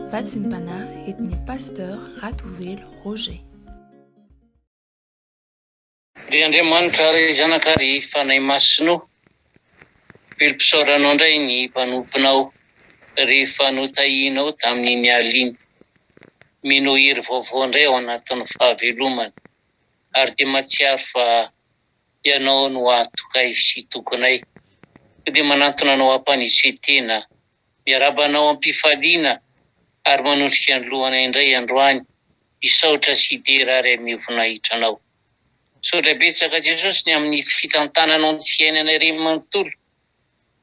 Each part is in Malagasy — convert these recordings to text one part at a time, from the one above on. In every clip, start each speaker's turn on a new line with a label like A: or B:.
A: Vatsim-panahy entin'ny Pasteur Ratovelo Roger.
B: Ry Andriamanitra ry Zanaka ry Fanahy Masina o, velom-pisaoranao indray ny mpanomponao rehefa notahianao tamin'iny alina iny. Mino hery vaovao indray ao anatin'ny fahavelomany ary dia mahatsiaro fa Ianao no antokay sy tokonay. Koa dia manantona anao hampanetry tena. Miarahaba anao am-pifaliana ary manondrika ny lohana indray androany hisaotra sy hidera ary haneho voninahitra anao. Misaotra betsaka Jesosy ny amin'ny fitantananao ny fiainanay iray manontolo,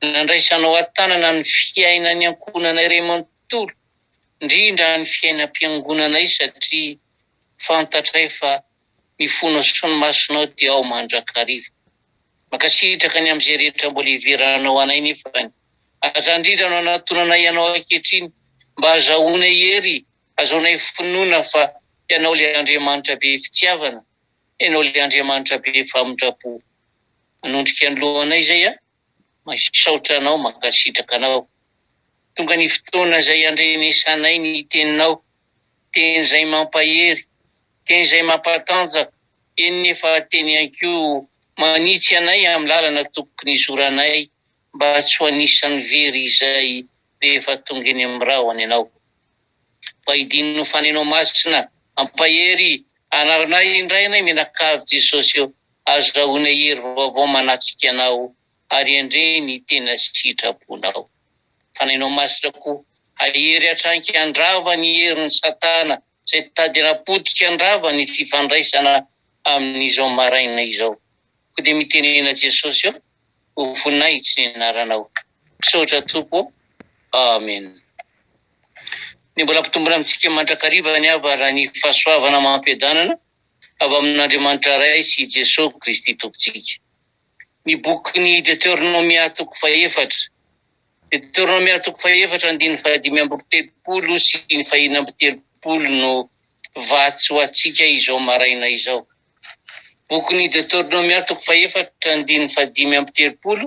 B: nandraisanao an-tanana ny fiainan'ny ankohonanay iray manontolo, indrindra ny fiainam-piangonanay satria fantatray fa ny fonao sy ny masonao dia ao mandrakariva. Mankasitraka ny amin'izay rehetra mbola hiveranao anay nefany. Aza indrindra no anatonanay ianao ankehitriny mba hazahoanay hery, hazahoanay finoana fa ianao ilay Andriamanitra be fitiavana, ianao ilay Andriamanitra be famindram-po. Manondrika ny lohanay izay an! Misaotra anao mankasitraka anao. Tonga ny fotoana izay andrenesanay ny teninao, teny izay mampahery, teny izay mampatanjaka, eny nefa teny ihany koa manitsy anay amin'ny lalana tokony hizoranay mba tsy ho anisan'ny very izay rehefa tonga eny amin'ny rahona ianao. Mba hidino ny faneno masina Hampahery anaranay indray anay Mianakavy Jesosy ô Azo rahoina hery vaovao Manatrika anao Ary handre ny tena sitraponao Faneno masina ko Hahery hatraiky Handrava ny herin'i satana Zay tady hanapotika Handrava ny fifandraisana Amin'izao maraina izao Ko dia mitenena Jesosy ô ho voninahitsy ny anaranao. Misaotra Tompo ô. Amen. Ny mbola mpitombona amintsika mandrakariva ny avara ny fahasoavana amam-piadanana avy amin'Andriamanitra Ray sy i Jesoa Kristy Tompontsika. Ny bokin'ny Deteronomia toko fahefatra Deteronomia toko fahefatra andininy fahadimy amby telopolo sy ny fahenina amby telopolo no vatsy ho antsika izao maraina izao. Bokin'i Deoteronomia toko fahefatra andininy fahadimy amby telopolo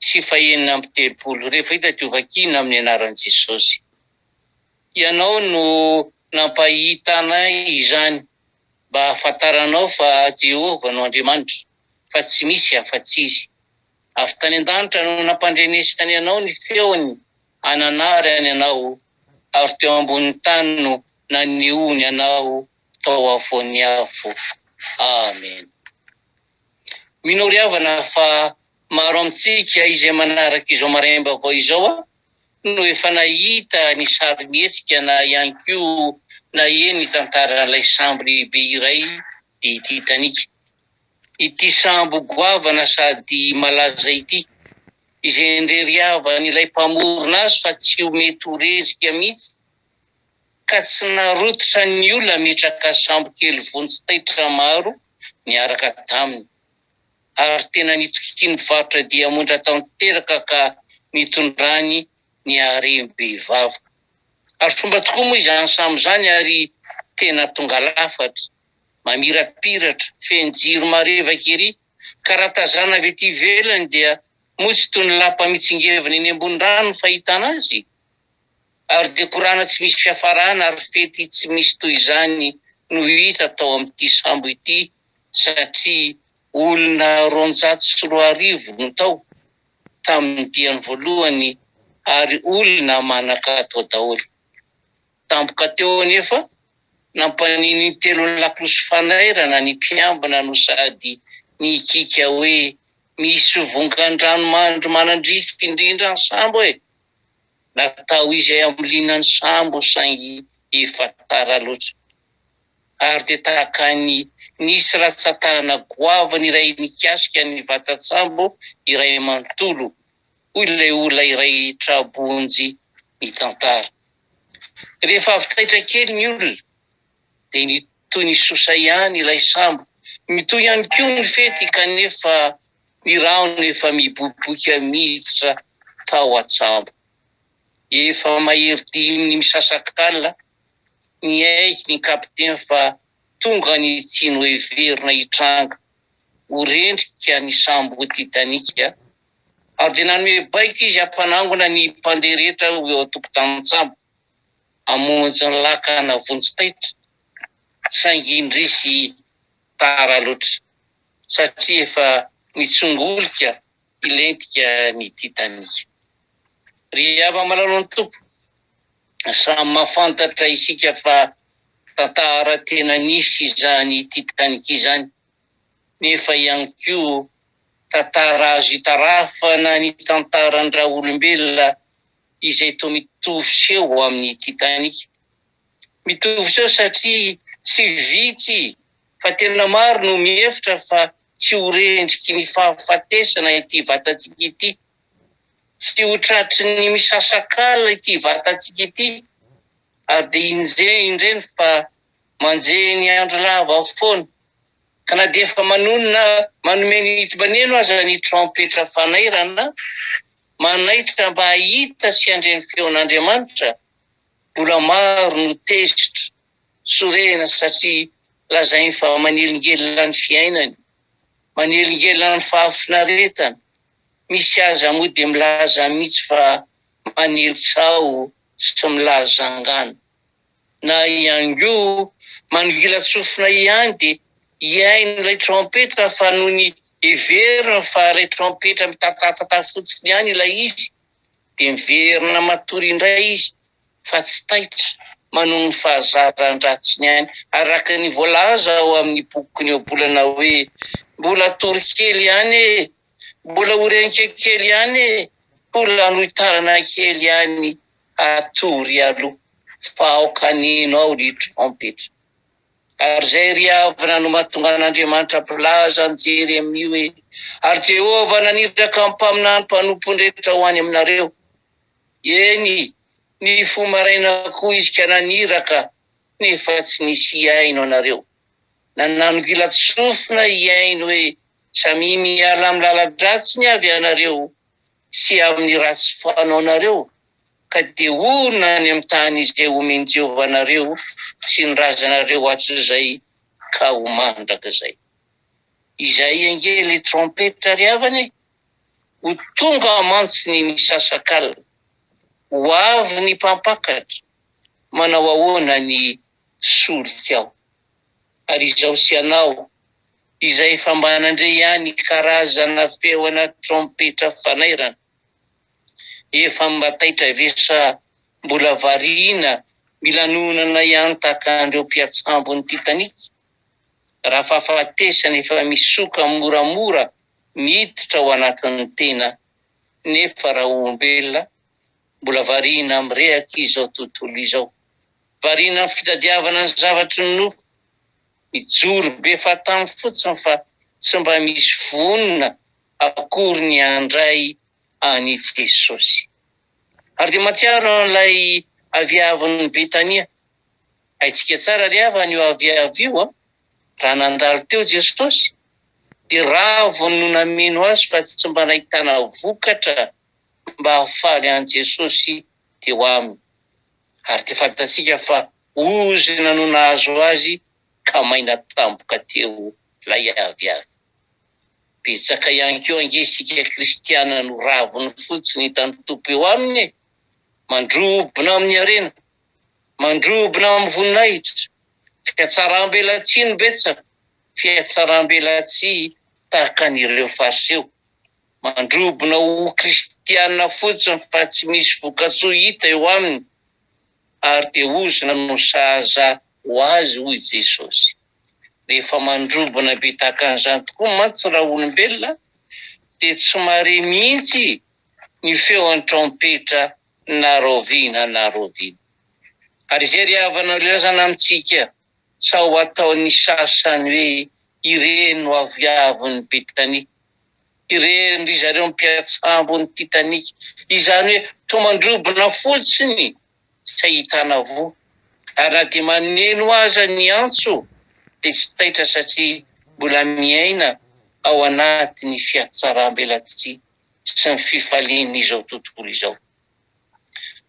B: sy fahenina amby telopolo, rehefa hita dia hovakina amin'ny anaran'i Jesosy. Ianao no nampahitana izany mba hahafantaranao fa Jehovah no Andriamanitra, fa tsy misy afa-tsy izy. Avy tany an-danitra no nampandrenesany anao ny feony hananarany anao, ary teo ambonin'ny tany no nanehoany anao tao afovoan'ny afo. Amena. Mino ry havana fa maro amintsika izay manaraka izao maraim-baovao izao no efa nahita ny sarimihetsika na ihany koa naheno ny tantaran'ilay sambo lehibe iray dia Titanic. Ity sambo goavana sady malaza ity, izay indrery havan'ilay mpamorona azy fa tsy ho mety ho rerika mihitsy, ka tsy narototra ny ola metraka sambo kely vonjy taitra maro niaraka taminy ary tena nitokian'ny mpivarotra diamondra tanteraka ka nitondrany ny harem-behivavy. Azo tromba tokoa moa izany sambo izany ary tena tonga lafatra, mamirapiratra, feno jiro marevaka ery ka raha tazana avy ety ivelany dia moa tsy toy ny lapa mitsingevana eny ambony rano ny fahitana azy? Ary dia korana tsy misy fiafarana ary fety tsy misy toy izany no hita tao amin'ity sambo ity satria olona roanjato sy roa arivo no tao tamin'ny diany voalohany ary olona manan-katao daholo. Tampoka teo anefa, nampanin'ny telon'ny lakolosy fanairana ny mpiambina no sady nihikiaka hoe misy vongan-dranomandry manandrify indrindra ny sambo e! Natao izay amolina ny sambo saingy efa tara loatra. Ary dia tahaka ny nisy ratsan-tanana goavana iray nikasika ny vatan-tsambo iray manontolo, hoy ilay olona iray tra-bonjy nitantara. Rehefa avy taitra kely ny olona dia nitohy nisosa ihany ilay sambo. Mitohy ihany koa ny fety kanefa Ny rahona efa miboiboika miditra tao an-tsambo. Efa mahery dimy ny misasak'alina, niaiky ny kapiteny fa tonga ny tsy noheverina hitranga ho rendrika ny sambo Titanic, ary dia nanome baiko izy hampanangona ny mpandeha rehetra ho eo an-tokotanin-tsambo hamonjy ny lakana vonjy taitra, saingy indrisy tara loatra. satria efa nitsongolika hilentika ny Titanic. Ry hava-malalan'ny Tompo, samy mahafantatra isika fa tantara tena nisy izany Titanic izany, nefa ihany koa tantara azo itarafana ny tantaran-dRaolombelona izay toa mitovy seho amin'ny Titanic. Mitovy seho satria tsy vitsy fa tena maro no mihevitra fa tsy ho re endriky ny fahafatesana ity vatantsika ity. Tsy ho tratry ny misasak'ala ity vatantsika ity ary dia inje indreny fa manje ny andro lava foana. Ka na dia efa manonona manome ny hidibaneno aza ny trompetra fanairana manaitra mba hahita sy handre ny feon'Andriamanitra, mbola maro no tezitra. sorehina satria lazainy fa manelingelina ny fiainany, manelingelina ny fahafinaretana, misy aza moa dia milaza mihitsy fa manely tsaho sy milaza angano. Na ihany koa manongilan-tsofina ihany dia hihaino ilay trompetra fa nony heveriny fa ilay trompetra mitatatata fotsiny ihany ilay izy dia miverina matory indray izy fa tsy taitra manohy ny fahazaran-dratsiny any, araka ny voalaza ao amin'ny bokiny ohabolana hoe, Mbola hatory kely ihany e! Mbola ho renika kely ihany e! Mbola hanohitanana kely ihany, hatory aloha fa aoka haneno aho ny trompetra. Ary izay ry havana no mahatonga an'Andriamanitra mpilaza an'i Jeremia hoe, Ary Jehovah naniraka ny mpaminany mpanompony rehetra ho any aminareo. Eny, nifoha maraina koa izy ka naniraka, nefa tsy nisy hihaino anareo. Nanangila-tsofina hihaino hoe, Samia miala amin'ny lala-dratsiny avy ianareo, sy amin'ny ratsy fanaonareo, ka dia orina any amin'ny tany izay omen'i Jehovah anareo sy ny razanareo hatrizay ka ho mandrakizay. Izay ange ilay trompetra ry havana e! Ho tonga mantsy ny misasak'alina. Ho avy ny mpampakatra, manao ahoana ny solikao? ary izaho sy ianao, izay efa mba nandre ihany karazana feona trompetra fanairana, efa mba taitra ve sa mbola variana milanonana hiantaka an'ireo mpiatsambon'ny Titanic? Raha fahafatesana efa misoka moramora miditra ao anatin'ny tena, nefa raha olombelona, mbola variana mirehaka izao tontolo izao. Variana am fitadiavana ny zavatry ny nofo, mijoro be fahatany fotsiny fa tsy mba misy vonona akory ny handray an i Jesosy. Ary dia mahatsiaro an ilay aviavin ny Betania. Haintsika tsara ry havana io aviavy io an, raha nandalo teo Jesosy dia raviny no nameno azy fa tsy mba nahitana vokatra mba hahafaly an Jesosy teo aminy, ary dia fantatsika fa ozona no nahazo azy ka maina tampoka teo lay avy avy. Betsaka ihany koa ange isika kristiana no raviny fotsiny hitan'ny Tompo eo aminy e! Mandrobona amin'ny harena, mandrobona amin'ny voninahitra, fiatsaram-belatsihy no betsaka, fiatsaram-belatsihy tahaka an'ireo Fariseo. Mandrobona ho kristiana fotsiny fa tsy misy vokatsoa hita eo aminy ary dia ozona no sahaza ho azy hoy Jesosy. Rehefa mandrobona be tahaka an'izany tokoa mantsy raha olombelona dia tsy mahare mihitsy ny feon'ny trompetra na rahoviana na rahoviana. Ary izay ry havana no ilazana amintsika. Sao ho ataon'ny sasany hoe ireny no aviavin'i Betania. Ireny ry zareo mpiantsambo ny Titanic. Izany hoe toa mandrobona fotsiny tsy ahitana voa. Ary na dia maneno aza ny antso dia tsy taitra satria mbola miaina ao anatin'ny fiatsaram-belatsihy sy ny fifalian'izao tontolo izao.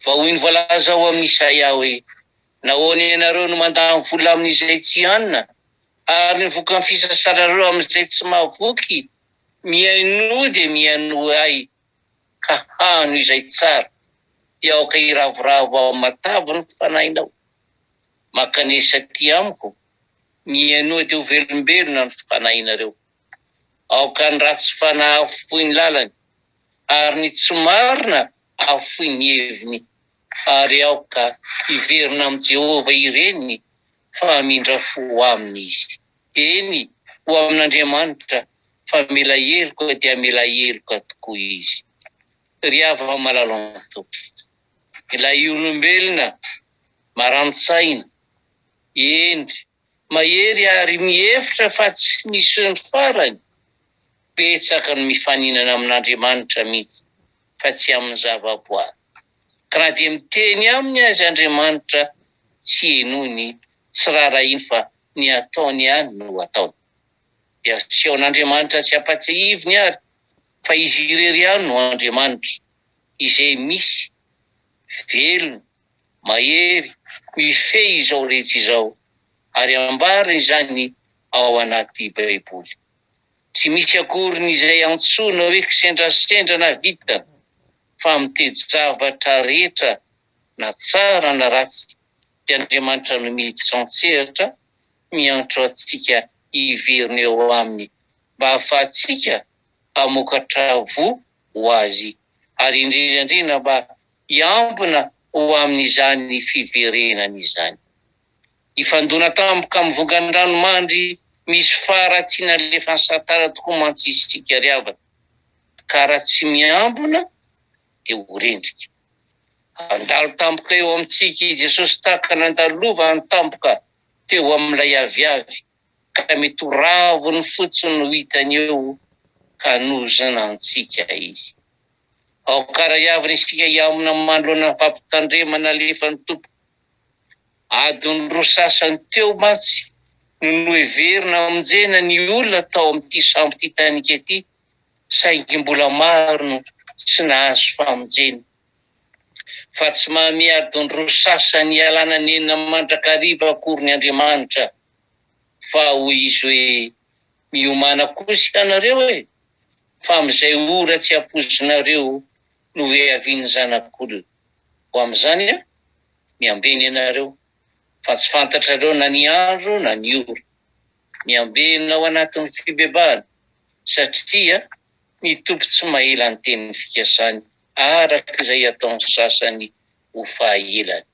B: Vahoiny voalaza ao amin'i Isaia hoe. Nahoana ianareo no mandany vola amin'izay tsy hanina, ary ny vokan'ny fisasanareo amin'izay tsy mahavoky? Mihainoa dia mihainoa Ahy, ka hano izay tsara, dia aoka hiravoravo ao amin'ny matavy ny fanahinao. Mankanesa aty Amiko, mihainoa dia ho velombelona ny fanahinareo. Aoka ny ratsy fanahy afoy ny lalany, ary ny tsy marina afoy ny heviny. Ary aoka hiverina amin'i Jehovah ireny fa hamindra fo aminy izy. Eny, ho amin'Andriamanitra fa mila heloka dia mila heloka tokoa izy. Ry havana malalan-toky, ilay olombelona marani-tsaina, eny, mahery ary mihevitra fa tsy misy ny farany, betsaka ny mifaninana amin'Andriamanitra mihitsy fa tsy amin'ny zavaboary, ka na dia miteny aminy aza Andriamanitra tsy henoiny, tsy raharahiany fa ny ataony ihany no ataony. Dia aseaon'Andriamanitra tsy ampatsiahiviny ary fa izy irery ihany no Andriamanitra, izay misy, velona, mahery ho hifehy izao rehetra izao, ary ambariny izany ao anaty Baiboly. Tsy misy akoriny izay antsoina hoe kisendrasendra na vitana, fa amin'ny toe-javatra rehetra na tsara na ratsy dia Andriamanitra no miditra an-tsehatra miantso antsika hiverina eo Aminy mba hahafahantsika hamokatra voa ho Azy ary indrindraindrindra mba hiambina ho amin'izany fiverenany izany. Hifandona tampoka amin'ny vongan-dranomandry misy fara tsy nalefan'i Satana tokoa mantsy isika ry havana, ka raha tsy miambina dia ho rendrika. Handalo tampoka eo amintsika i Jesosy tahaka nandalovany tampoka teo amin'ilay aviavy ka mety ho raviny fotsiny no hitany eo ka hanozona antsika izy. Aoka raiavina isika hihamina manoloana ny fampitandremana alefan'ny Tompo. Adiny roa sasany teo mantsy no noheverina hamonjena ny olona tao amin'ity sambo Titanic ity, saingy mbola maro no tsy nahazo famonjena. fa tsy mahamia adin-droa sasany ialana nenina mandrakariva akory ny Andriamanitra, fa hoy Izy hoe, Miomàna kosa ianareo e, fa amin'izay ora tsy hampoizinareo no hoheavian'ny Zanak'olona. Ho amin'izany an, miambe ny anareo, fa tsy fantatrareo na ny andro na ny ora. Miambe na ao anatin'ny fibebahana, satria ny Tompo tsy mahela ny teniny fikasany. araka izay ataon'ny sasany ho fahaelany,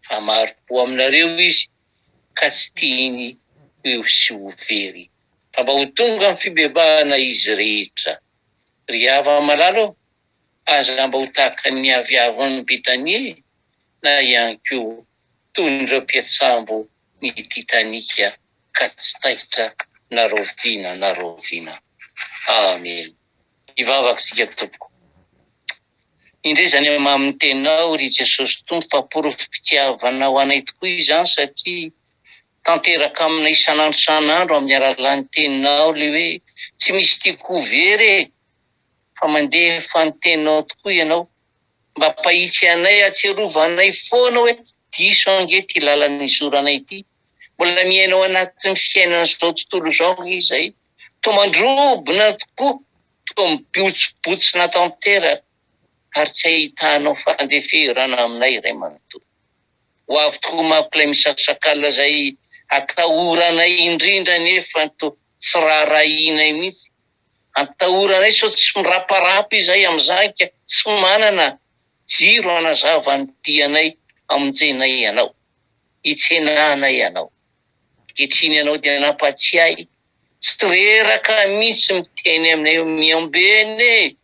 B: fa maro-po aminareo izy ka tsy tiany ho eo sy ho very, fa mba ho tonga amin'ny fibebahana izy rehetra. Ry hava-malala ô, aza mba ho tahaka ny aviavin'i Betania e, na ihany koa toy ireo mpiantsambo ny Titanic ka tsy taitra na raoviana na raoviana. Amena. Hivavaka isika tompoko. Indray izany amamin'ny tenao ry Jesosy Tompo fa porofom-pitiavanao anay tokoa izany satria tanteraka aminay isan'andro isan'andro amin'ny alalan'ny teninao le hoe tsy misy tiako ho very e fa mandefa ny teninao tokoa ianao mba mpahitsy anay atsiarova anay foana hoe diso ange ty lalana izoranay ty mbola miainao anatin'ny fiainana izao tontolo izao izay Toa mandrobona tokoa, toa mibotsbotsina tanteraka ary tsy ahitanao fandeferana aminay ray manontolo. Ho avy tokoa manko ilay misasak'alina izay atahoranay indrindra nefa toa tsy raharahianay mihitsy. Antahoranay sao tsy miraparapa izay amin'izany ka tsy manana jiro hanazava ny dianay hamonjena ianao, hitsenanay anao. Ankehitriny ianao dia nampatsiahy tsy reraka mihitsy miteny aminay hoe miambena e!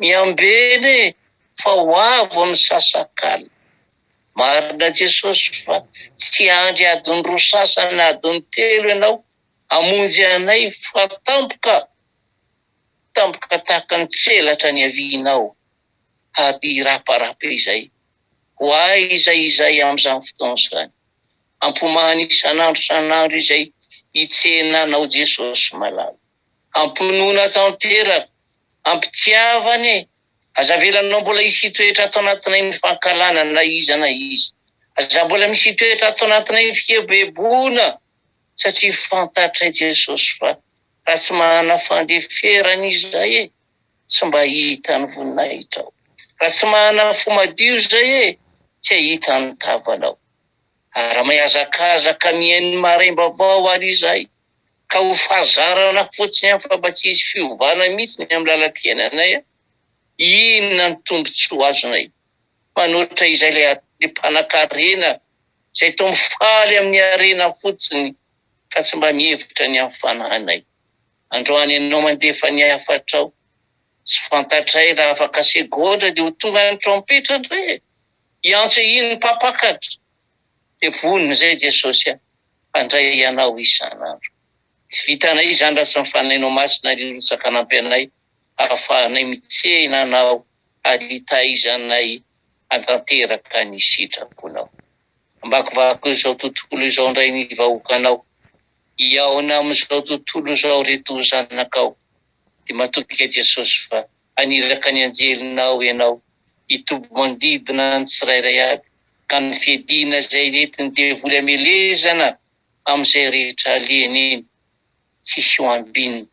B: miambena e! fa ho avo ny sasakalina. Marina Jesosy fa tsy hiandry adiny roa sasany na adiny telo ianao hamonjy anay fa tampoka, tampoka tahaka ny tselatra niavianao, hampihiraparapa izay. ho ahy izay izay amin'izany fotoana izany. Ampomahany isan'andro isan'andro izay hitsena Anao Jesosy malala. Amponoana tanteraka, ampitiava anie, aza avelanao mbola hisy hitoetra ato anatinay ny fankahalana na iza na iza. Aza mbola misy hitoetra ato anatinay ny fikeboheboana satria fantatray Jesosy fa raha tsy manana fandeferana izahay e. tsy mba hihita ny voninahitrao Raha tsy manana fo madio izay e tsy hahita ny tavanao Ary mihazakazaka mihaino ny maraim-baovao ary izay Ka ho fahazarana fotsiny ihany fa mba tsy hisy fiovana mihitsy ny amin'ny lalam-piainanay a Inona ny tombontsoa azonay manoatra izay le mpanankarena Izay toa mifaly amin'ny harena fotsiny fa tsy mba mihevitra ny amin'ny fanahinay Androany ianao mandefa ny hafatrao. Tsy fantatray raha afaka segondra dia ho tonga ny trompetra indray e! Hiantso iny mpampakatra. Dia vonona izay Jesosy a! Handray anao isan'andro. Tsy vitanay izany raha tsy mifanainao Masina ry Rotsaka hanampy anay hahafahanay mitsehina anao ary hitaizanay hantanteraka ny sitraponao. Hamakivaky izao tontolo izao indray ny vahoakanao Hihaona amin'izao tontolo izao ry Toa zanakao, dia matoky ahy Jesosy fa haniraka ny anjelinao ianao hitoby manodidina ny tsirairay aby ka ny fiadiana izay nentin'ny devoly hamelezana amin'izay rehetra alehany iny tsisy ho ambinina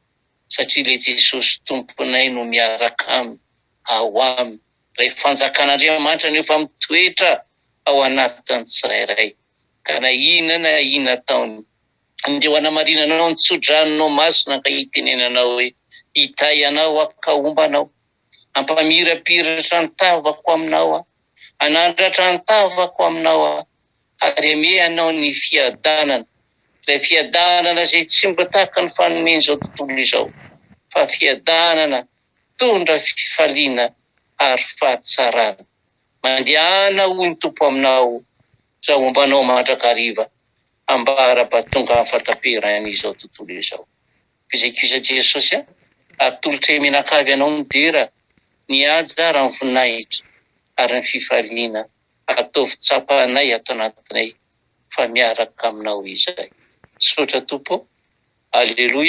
B: satria ilay Jesosy Tomponay no miaraka aminy ao aminy ilay fanjakan'Andriamanitra no efa mitoetra ao anatin'ny tsirairay ka na inona na inona ataony, dia ho hanamarinanao ny tso-dranonao masina ka hitenenanao hoe, Hitahy anao aho ka homba anao, hampamirapiratra ny tavako aminao aho, hanandratra ny tavako aminao aho, ary hamehy anao ny fiadanana, ilay fiadanana izay tsy mba tahaka ny fanomen'izao tontolo izao, fa fiadanana mitondra fifaliana ary fahatsarana. Mandehana hoy ny Tompo aminao izao homba anao mandrakariva hambara ba tonga am fataperan izao tontolo izao fizekisa Jesosy a atolotre menakavy anao ny dera ny haja ara ny voninahitra ary ny fifaliana ataovy tsapa anay ato anatinay fa miaraka aminao izay misaotra Tompo o Aleloia.